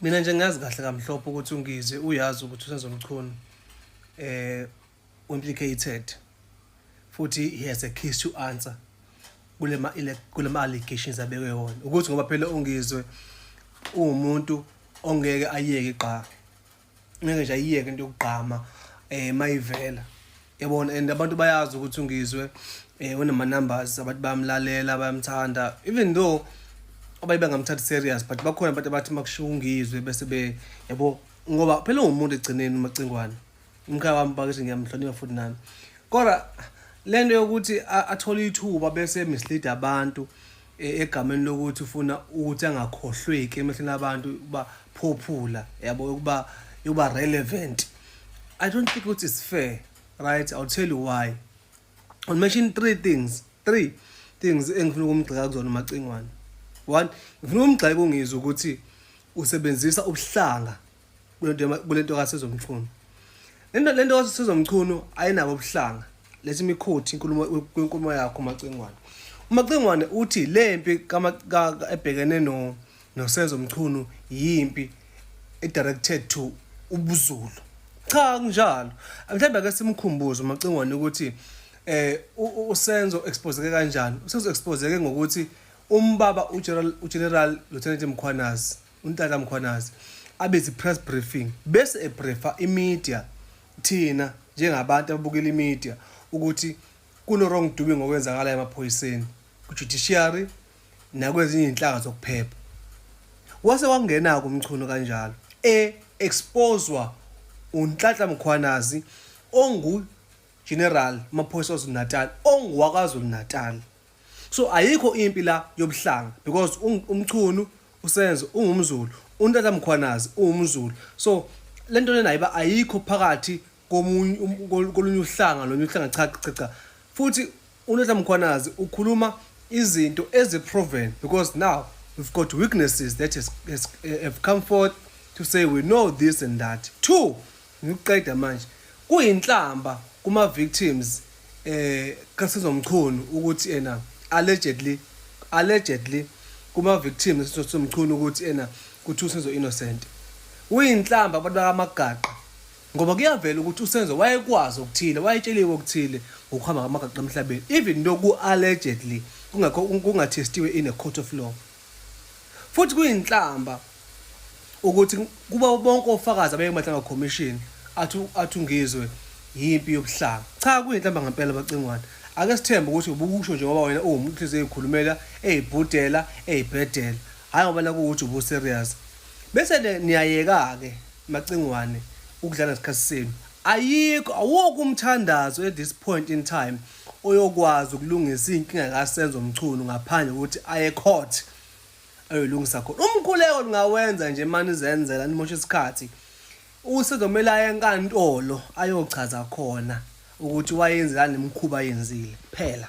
mina nje ngazi kahle kamhlophe ukuthi ungize uyazi ukuthi usenzomchunu eh implicated futhi he has a case to answer kulema kulema allegations abekwe wona ukuthi ngoba phela ungizwe uwumuntu ongeke ayeke qha ngeke nje ayiyeke into yokugqama eh mayivela yabona and abantu bayazi ukuthi ungizwe eh unama numbers abantu bayamlalela bayamthanda even though abaye bengamthathi serious but bakhona abantu abathi makushiwo ungizwe bese be yabo ngoba phela ungumuntu egcineni umacingwane umkhaya wami bakithi ngiyamhlonipha futhi nami kodwa lento yokuthi athole ithuba bese mislead abantu E, egameni lokuthi ufuna ukuthi angakhohlweki emehlweni abantu ukuba popular yabo ukuba yokuba relevant i don't think ukuthi is fair right i'll tell you why i'll mention three things three things engifuna ukumgxeka kuzona umacingwane one ngifuna ukumgxeka ungizwe ukuthi usebenzisa ubuhlanga kulento kasezomchunu lento lento kasezomchunu ayinabo ubuhlanga lesi mikhothi inkulumo kwenkulumo yakho macingwane umacingwane uthi le mpi ebhekene no nosenzo mchunu yimpi edirected to ubuzulu cha kunjalo mhlawumbe ake simkhumbuze umacingwane ukuthi eh usenzo exposeke kanjani usenzo exposeke ngokuthi umbaba uGeneral uGeneral Lieutenant Mkhwanazi uNtata Mkhwanazi abize i-press briefing bese ebriefa imedia thina njengabantu ababukela imedia ukuthi kuno-wrong doing okwenzakalayo emaphoyiseni kujudiciary nakwezinye izinhlanga zokuphepha wase wangena-ke umchuno kanjalo e-exposwa uNhlanhla Mkhwanazi ongu-general maphoyisa waZulu-Natal onguwakwaZulu-Natal so ayikho impi la yobuhlanga because umchunu usenzo ungumzulu untata mkhwanazi ungumzulu so lento lena ayiba ayikho phakathi komunye um, kolunye uhlanga lonye uhlanga cha cha cha futhi untata mkhwanazi ukhuluma izinto eziproven because now we've got witnesses that has, has, eh, have come forth to say we know this and that two Ngikuqeda manje. Kuyinhlamba kuma victims eh kaSizwe Mchunu ukuthi ena allegedly allegedly kuma victims kaSizwe Mchunu ukuthi ena kuthi uSizwe innocent. Uyinhlamba abantu bakamagaqa ngoba kuyavela ukuthi uSenzo wayekwazi okuthile wayetsheliwe okuthile ngokuhamba kamagaqa emhlabeni even though ku allegedly kungakho kungathestiwe in a court of law. Futhi kuyinhlamba ukuthi kuba bonke ofakazi abeke mahlanga commission athu athungizwe yimpi yobuhlanga. Cha kuyinhlamba ngempela bacingwane. Ake sithembe ukuthi ubukusho nje ngoba wena uwumuntu inhliziyo ezikhulumela, ezibhudela, ezibhedela. Hayi ngoba nakuwuthi ubu serious. Bese ke niyayeka ke macingwane ukudlala ngesikhathi senu. Ayikho awukho umthandazo at this point in time. oyokwazi ukulungisa iy'nkinga kaSenzo Mchunu ngaphandle kokuthi aye court ayoyilungisa khona umkhuleko lingawenza nje mani izenzela nimosha isikhathi usezomele aye enkantolo ayochaza khona ukuthi wayenzelani nemkhuba yenzile phela